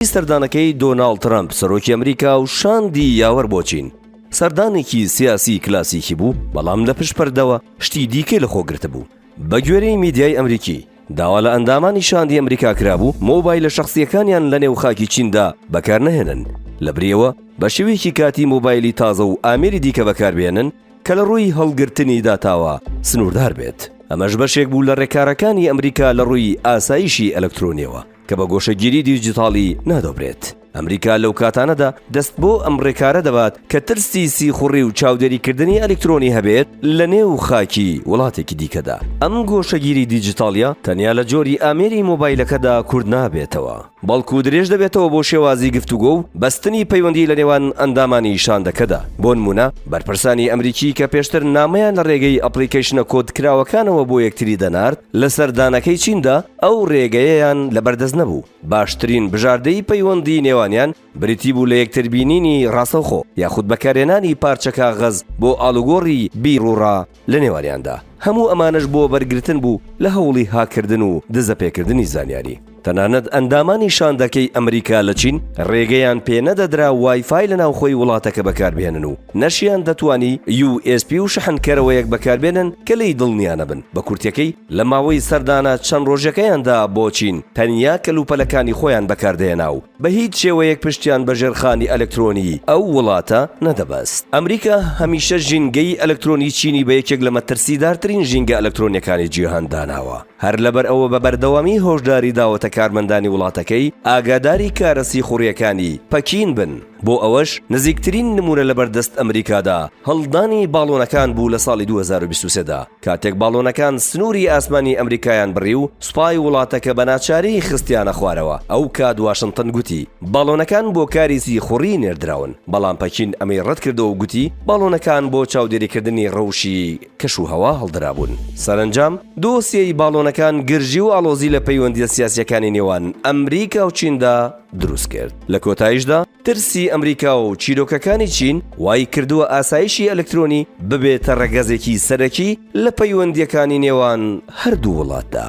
دوای سەردانەکەی دۆناڵد ترەمپ سەرۆکی ئەمریکا و شاندی یاوەر بۆ چین، سەردانێکی سیاسی کلاسیکی بوو، بەڵام لە پشت پەردەوە شتی دیکەی لە خۆ گرتبوو. بە گوێرەی میدیای ئەمریکی، داوا لە ئەندامانی شاندی ئەمریکا کرابوو مۆبایلە شەخسییەکانیان لە نێو خاکی چیندا بەکار نەهێنن، لە بریەوە بە شێوەیەکی کاتی مۆبایلی تازە و ئامێری دیکە بەکار بهێنن کە لە ڕووی هەڵگرتنی داتاوە سنووردار بێت. ئەمەش بەشێک بوو لە ڕێکارەکانی ئەمریکا لە ڕووی ئاسایشی ئەلکترۆنییەوە. کە بە گۆشەگیری دیجیتاڵی نادۆبرێت. ئەمریکا لەو کاتانەدا دەست بۆ ئەم ڕێکارە دەبات کە ترسی سیخوڕی و چاودێریکردنی ئەلیکترۆنی هەبێت لە نێو خاکی وڵاتێکی دیکەدا. ئەم گۆشەگیری دیجیتاڵیە تەنیا لە جۆری ئامێری مۆبایلەکەدا کورت نابێتەوە، بەڵکو درێژ دەبێتەوە بۆ شێوازی گفتوگۆ و بەستنی پەیوەندی لە نێوان ئەندامانی شاندەکەدا، بۆنمونە بەرپرسانی ئەمریکی کە پێشتر نامەیان لە ڕێگەی ئەپڵیکەیشنە کۆدکراوەکانەوە بۆ یەکتری دەنارد لە سەردانەکەی چیندا، ئەو رێگەیەیان لەبەردەست نەبوو، باشترین بژاردەی پەیوەندیی نێوانیان بریتی بوو لە یەکتربینینی راستەوخۆ، یاخود بەکارهێنانی پارچە کاغەز بۆ ئاڵوگۆڕی بیروڕا لەنێوانیاندا. هەموو ئەمانەش بۆ وەرگرتن بوو لە هەوڵی هاککردن و دزەپێکردنی زانیاری. تەنانەت ئەندامانی شاندەکەی ئەمریکا لە چین رێگەیان پێنەدەدرا وای فای لەناوخۆی وڵاتەکە بەکاربهێنن و نەشیاندەتوانی یو ئێس پی و شەحنکەرەوەیەک بەکاربێنن کە لێی دڵنیانەبن، بە کورتیەکەی، لە ماوەی سەردانە چەند ڕۆژەکەیاندا بۆ چین، تەنیا کەلوپەلەکانی خۆیان بەکاردەهێنا و بە هیچ شێوەیەک پشتیان بە ژێرخانی ئەلکترۆنیی ئەو وڵاتە نەدەبەست. ئەمریکا هەمیشە ژینگەی ئەلکترۆنیی چینی بە یەکێک لە مەترسیدارترین ژینگە ئەلکترۆنییەکانی جیهان داناوە، هەر لەبەرئەوە بە بەردەوامی هۆشداری داوەتە کارمەندانی وڵاتەکەی ئاگاداری کارە سیخوڕییەکانی پەکین بن. بۆ ئەوەش نزیکترین نموونە لەبەر دەست ئەمریکادا هەڵدانی باڵۆنەکان بوو لە ساڵی دوو هەزار و بیست و سێ دا کاتێک باڵۆنەکان سنووری ئاسمانی ئەمریکایان بڕی و سوپای وڵاتەکە بە ناچاری خستیانە خوارەوە ئەو کات واشنتن گوتی باڵۆنەکان بۆ کاری سیخوڕی نێردراون بەڵام پەکین ئەمەی ڕەت کردەوە و گوتی باڵۆنەکان بۆ چاودێریکردنی ڕەوشی کەشوهەوا هەڵدرابوون سەرەنجام دۆسیەی باڵۆنەکان گرژی و ئاڵۆزی لە پەیوەندییە سیاسییەکانی نێوان ئەمریکا و چیندا دروست کرد. لە کۆتاییشدا ترسی ئەمریکا و چیرۆکەکانی چین وای کردووە ئاسایشی ئەلکترۆنی ببێتە ڕەگەزێکی سەرەکی لە پەیوەندییەکانی نێوان هەردوو وڵاتدا.